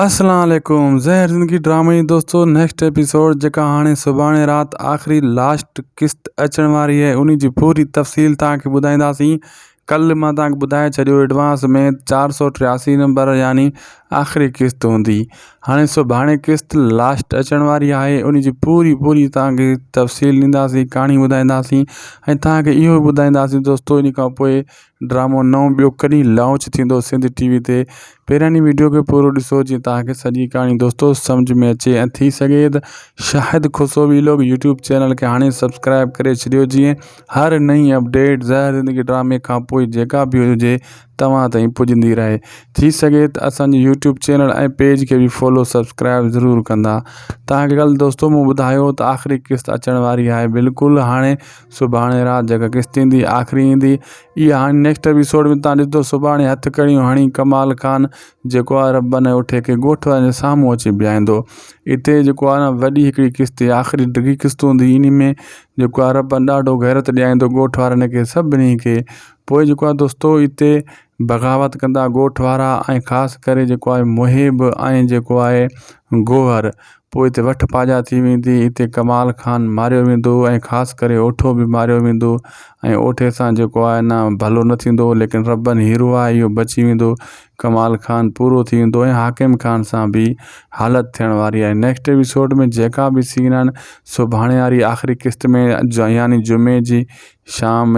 اسلام عليڪم زهر زندگي ڊرامي جي دوستو نيڪسٽ ايپيسوڊ جيڪا هاڻي سڀاڻي رات آخري لاسٽ قسط اچڻ واري آهي انهي جي پوري تفصيل توهان کي ٻڌائينداسين ڪل مان توهان کي ٻڌائي ڇڏيو ايڊوانس ۾ چار سو ٽياسي نمبر يعني آخري قسط هوندي هاڻي سڀاڻي قسط لاسٽ اچڻ واري آهي انهي جي پوري پوري توهان کي تفصيل ڏينداسين ڪهاڻي ٻڌائينداسين ۽ توهان کي اهو ٻڌائينداسين دوستو انهي کان پوء ڊرامو نئون ٻيو ڪڏھن لانچ ٿيندو سنڌ ٽي وي تي پهريان ھن وڊيو کي پورو ڏسو جيئن توھان کي سڄي ڪھاڻي دوستو سمجھ ۾ اچي ۽ ٿي سگھي ته Shahid Khusro vlog YouTube channel کي ھاڻي سبسڪرائب ڪري ڇڏيو جيئن ھر نئين اپڊيٽ زهر زندگي ڊرامي کان پوء جيڪا به ھجي توھان تائين پڄندي رھي ٿي سگھي ته اسان جي يوٽيوب چينل ۽ پيج کي به فالو سبسڪرائب ضرور ڪندا توھان کي ڪل دوستو مون ٻڌايو ته آخري قسط اچڻ واري آھي بلڪل ھاڻي سڀاڻي رات جيڪا قسط ايندي آخري ايندي اها هاڻي نيڪسٽ ايپيسوڊ ۾ تان ڏسندو سڀاڻي هٿ ڪڙيون هڻي ڪمال خان جيڪو آهي رباني اٺي کي ڳوٺ وارن جي سامهون اچي بيهائيندو اتي جيڪو آهي نه وڏي هڪڙي قسط آخري ڊگهي قسط هوندي انهي ۾ جيڪو آهي ربان ڏاڍو غيرت ڏياريندو ڳوٺ وارن کي سڀني کي پوء جيڪو آهي دوستو اتي بغاوت ڪندا ڳوٺ وارا ۽ خاص ڪري جيڪو آهي محب ۽ جيڪو آهي گوهر پوء اتي وٺ پاڄا ٿي ويندي، اتي ڪمال خان ماريو ويندو ۽ خاص ڪري اوٺو به ماريو ويندو ۽ اوٺي سان جيڪو آهي نه ڀلو نه ٿيندو ليڪن ربن هيرو آهي اهو بچي ويندو ڪمال خان پورو ٿي ويندو ۽ حاڪم خان سان به حالت ٿيڻ واري آهي نيڪسٽ ايپيسوڊ ۾ جيڪا به سين آهن سڀاڻي واري آخري قسط ۾ يعني جمعي جي شام